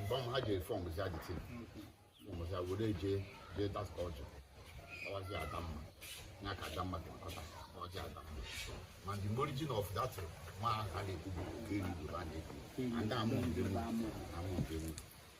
mgbe ha ji fọm zi adịtị fọm zi were jee jee that culture ọwazi adamma ya ka adamma ga-akọta ọjị adamma and the origin of that ma ha na-ekwu bụ nke eri bụ ha na-ekwu and amụ ndị mụ amụ ndị mụ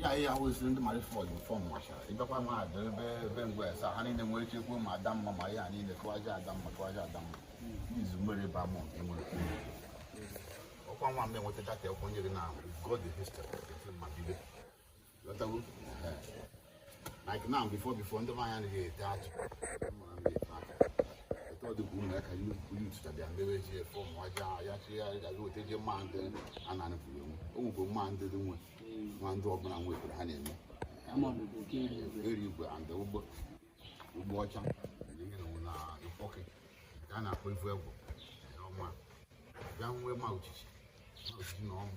ya ihe ahụ esiri ndị mara fọdụ fọm machara ịbịakwa ma ada ebe ebe ngwa esa ha niile nwere ike kwuo ma adamma ma ihe a niile kụwaja adamma kụwaja adamma n'izu mmiri ba mọ nke nwere ọkwa nwa mgbe nweta data ekwenye gị na god the history of the film ma bido lọtawo like now before before ndị mmanwụ anaghị ete atụ ọdịbụ ụmụ ya ka yututa bịa mewe ji efe ụmụ aja ya chi ya gazi weta ji mma ndị a na-anụpụrụ enwe o nwekwe mma ndị dị nwe nwa ndị ọbụla nwekwere ha na-eme eri igwe and ụgbọ ụgbọ ọcha na ịkpọke ka a na-akpọ ivu egwu ọma bịa nwee ma ochichi ma ochichi na ọnwụ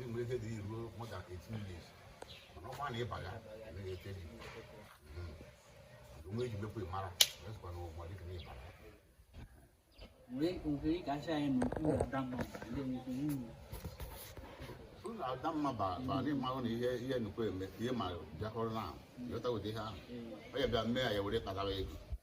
enwere ike dị ruo more than 18 years mana ọkwa na ịbaga emeghị ete dị onwe eji mekwa ịmara ezikwa na ụgbọ dịka na ịbara ụlọ adamma badị mmanwụ na ihe ihe nnukwu eme ihe ma bịakọrọ na ahụ lọta ụdị ihe ahụ onye bịa mee ya ya were kpatara ego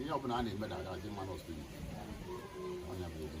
ihe ọbụla a na-eme na aga adị mma n'ọsụ ọnya bụ ezi